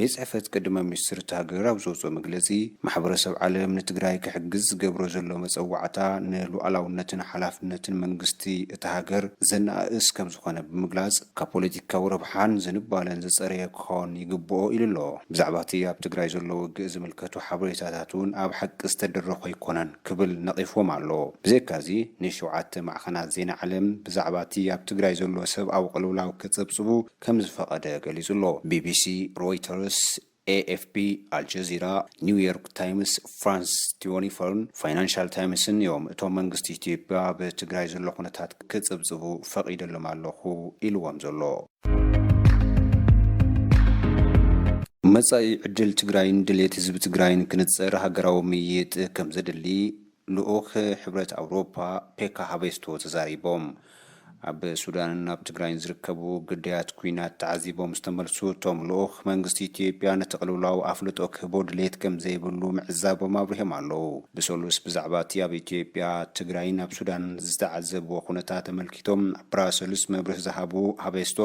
ቤት ፅሕፈት ቀዳማይ ሚኒስትር እታ ሃገር ኣብ ዘውፅኦ መግለፂ፣ ማሕበረሰብ ዓለም ንትግራይ ክሕግዝ ዝገብሮ ዘሎ መፀዋዕታ ንሉኣላውነትን ሓላፍነትን መንግስቲ እታ ሃገር ዘነኣእስ ከምዝኾነ ብምግላፅ፣ ካብ ፖለቲካዊ ረብሓን ዝንባለን ዝፀረየ ክኾን ይግበኦ ኢሉ ኣሎ። ብዛዕባ እቲ ኣብ ትግራይ ዘሎ ውግእ ዝምልከቱ ሓበሬታታት እውን ኣብ ሓቂ ዝተደረኹ ኣይኮነን ክብል ነቒፍዎም ኣሎ። ብዘይካ እዚ ንሸውዓተ ማዕኸናት ዜና ዓለም ብዛዕባ እቲ ኣብ ትግራይ ዘሎ ሰብኣዊ ቅልውላው ከፀብፅቡ፣ ከም ዝፈቐደ ገሊጹ'ሎ። ቢቢሲ፣ ሮይተርስ፣ ኤኤፍፒ፣ ኣልጀዚራ፣ ኒው ዮርክ ታይምስ፣ ፍራንስ ቲወኒፎርን ፋይናንሻል ታይምስን እዮም እቶም መንግስቲ ኢትዮጵያ ኣብ ትግራይ ዘሎ ኩነታት ክጽብጽቡ ፈቒደሎም ኣለኹ ኢልዎም ዘሎ። መጻኢ ዕድል ትግራይን ድሌት ህዝቢ ትግራይን ክንጽር ሃገራዊ ምይይጥ ከምዘድሊ ልኡኽ ሕብረት ኣውሮፓ ፔካ ሃቬስቶ ተዛሪቦም። ኣብ ሱዳንን ኣብ ትግራይን ዝርከቡ ግዳያት ኲናት ተዓዚቦም ዝተመልሱ እቶም ልኡኽ፣ መንግስቲ ኢትዮጵያ ነቲ ቅልውላው ኣፍልጦ ክህቦ ድሌት ከምዘይብሉ ምዕዛቦም ኣብሪሆም ኣለው። ብሰሉስ ብዛዕባ እቲ ኣብ ኢትዮጵያ፣ ትግራይን ኣብ ሱዳንን ዝተዓዘብዎ ኩነታት ኣመልኪቶም ኣብ ብራሰልስ መብርሂ ዝሃቡ ሃቬስቶ፣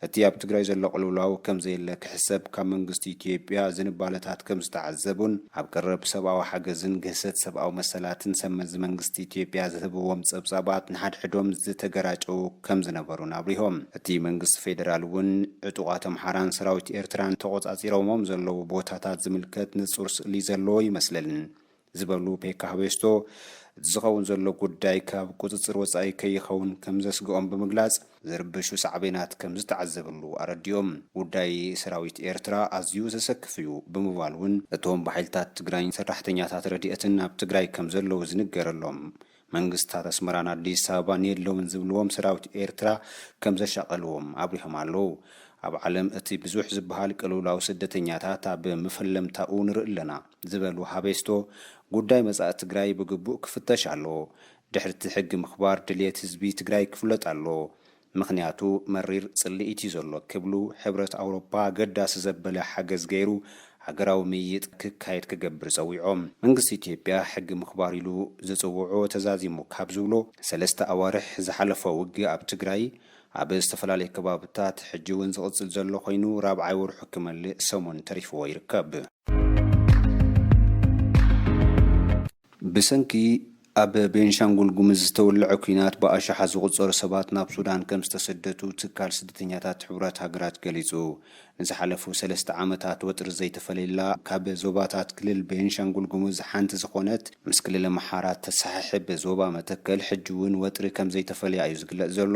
እቲ ኣብ ትግራይ ዘሎ ቅልውላው ከም ዘየለ ክሕሰብ ካብ መንግስቲ ኢትዮጵያ ዝንባለታት ከም ዝተዓዘቡን ኣብ ቀረብ ሰብኣዊ ሓገዝን ግህሰት ሰብኣዊ መሰላትን ሰብ መዚ መንግስቲ ኢትዮጵያ ዝህብዎም ጸብጻባት ንሓድሕዶም ዝተገራጨዉ ከም ዝነበሩን ኣብሪሆም። እቲ መንግስቲ ፌደራል እውን ዕጡቓት ኣምሓራን ሰራዊት ኤርትራን ተቖጻጺሮሞም ዘለዉ ቦታታት ዝምልከት ንጹር ስእሊ ዘለዎ ይመስልል ዝበሉ ፔካ ህቤስቶ፣ እቲ ዝኸውን ዘሎ ጉዳይ ካብ ቁፅፅር ወፃኢ ከይኸውን ከምዘስግኦም ብምግላፅ፣ ዝርበሹ ሳዕቤናት ከምዝተዓዘብሉ ኣረዲኦም። ጉዳይ ሰራዊት ኤርትራ ኣዝዩ ዘሰክፍ እዩ ብምባል እውን፣ እቶም ብሓይልታት ትግራይን ሰራሕተኛታት ረድኤትን ኣብ ትግራይ ከምዘለዉ ዝንገረሎም መንግስታት ኣስመራን ኣዲስ ኣበባን የለውን ዝብልዎም ሰራዊት ኤርትራ ከም ዘሻቐልዎም ኣብሪሆም ኣለዉ። ኣብ ዓለም እቲ ብዙሕ ዝበሃል ቅልውላው ስደተኛታት ኣብ መፈለምታኡ ንርኢ ኣለና ዝበሉ ሃቤስቶ፣ ጉዳይ መጻኢ ትግራይ ብግቡእ ክፍተሽ ኣለዎ። ድሕሪ'ቲ ሕጊ ምኽባር ድልየት ህዝቢ ትግራይ ክፍለጥ ኣለዎ። ምኽንያቱ መሪር ጽልኢት እዩ ዘሎ ክብሉ፣ ሕብረት ኣውሮፓ ኣገዳሲ ዘበለ ሓገዝ ገይሩ ሃገራዊ ምይይጥ ክካየድ ክገብር ጸዊዖም። መንግስቲ ኢትዮጵያ ሕጊ ምኽባር ኢሉ ዝጽውዖ ተዛዚሙ ካብ ዝብሎ ሰለስተ ኣዋርሕ ዝሓለፎ ውግእ ኣብ ትግራይ ኣብ ዝተፈላለዩ ከባብታት ሕጂ እውን ዝቕጽል ዘሎ ኮይኑ ራብዓይ ወርሑ ክመልእ ሰሙን ተሪፍዎ ይርከብ። ብሰንኪ ኣብ ቤንሻንጉል ጉምዝ ዝተወለዐ ኲናት ብኣሽሓት ዝቑጸሩ ሰባት ናብ ሱዳን ከም ዝተሰደቱ ትካል ስደተኛታት ሕቡራት ሃገራት ገሊጹ። ንዝሓለፉ ሰለስተ ዓመታት ወጥሪ ዘይተፈለየላ ካብ ዞባታት ክልል ቤንሻንጉል ጉምዝ ሓንቲ ዝኾነት ምስ ክልል ኣምሓራ እተሰሓሕብ ዞባ መተከል ሕጂ'ውን ወጥሪ ከም ዘይተፈለያ እዩ ዝግለጽ ዘሎ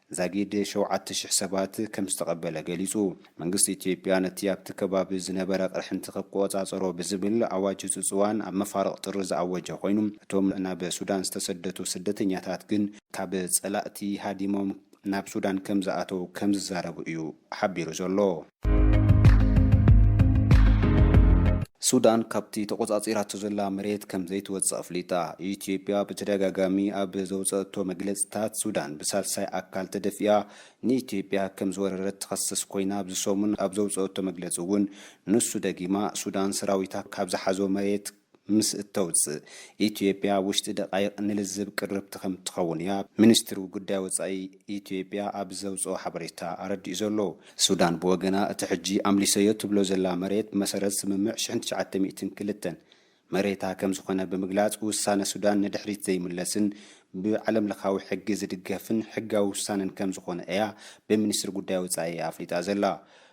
ዛጊድ ሸውዓተ ሽሕ ሰባት ከምዝተቐበለ ገሊጹ። መንግስቲ ኢትዮጵያ ነቲ ኣብቲ ከባቢ ዝነበረ ቅርሕንቲ ክቆጻጸሮ ብዝብል ኣዋጅ ህጹጽ እዋን ኣብ መፋርቕ ጥሪ ዝኣወጀ ኮይኑ፣ እቶም ናብ ሱዳን ዝተሰደቱ ስደተኛታት ግን ካብ ጸላእቲ ሃዲሞም ናብ ሱዳን ከምዝኣተው ከምዝዛረቡ እዩ ሓቢሩ ዘሎ። ሱዳን ካብቲ ተቖጻጺራቶ ዘላ መሬት ከም ዘይትወጽእ ኣፍሊጣ። ኢትዮጵያ ብተደጋጋሚ ኣብ ዘውጸእቶ መግለጺታት፣ ሱዳን ብሳልሳይ ኣካል ተደፊኣ ንኢትዮጵያ ከም ዝወረረት ትኸስስ ኮይና ኣብዚ ሰሙን ኣብ ዘውጸእቶ መግለጺ'ውን ንሱ ደጊማ ሱዳን ሰራዊታ ካብ ዝሓዞ መሬት ምስ እተውጽእ ኢትዮጵያ ኣብ ውሽጢ ደቓይቕ ንልዝብ ቅርብቲ ከምትኸውን እያ ሚኒስትሪ ጉዳይ ወጻኢ ኢትዮጵያ ኣብ ዘውጽኦ ሓበሬታ ኣረዲኡ ዘሎ። ሱዳን ብወገና እቲ ሕጂ ኣምሊሰዮ ትብሎ ዘላ መሬት ብመሰረት ስምምዕ ሽሕን ትሽዓተ ሚእትን ክልተን መሬታ ከምዝኾነ ብምግላጽ ውሳነ ሱዳን ንድሕሪት ዘይምለስን ብዓለምለኻዊ ሕጊ ዝድገፍን ሕጋዊ ውሳነን ከምዝኾነ እያ ብሚኒስትሪ ጉዳይ ወጻኢ ኣፍሊጣ ዘላ።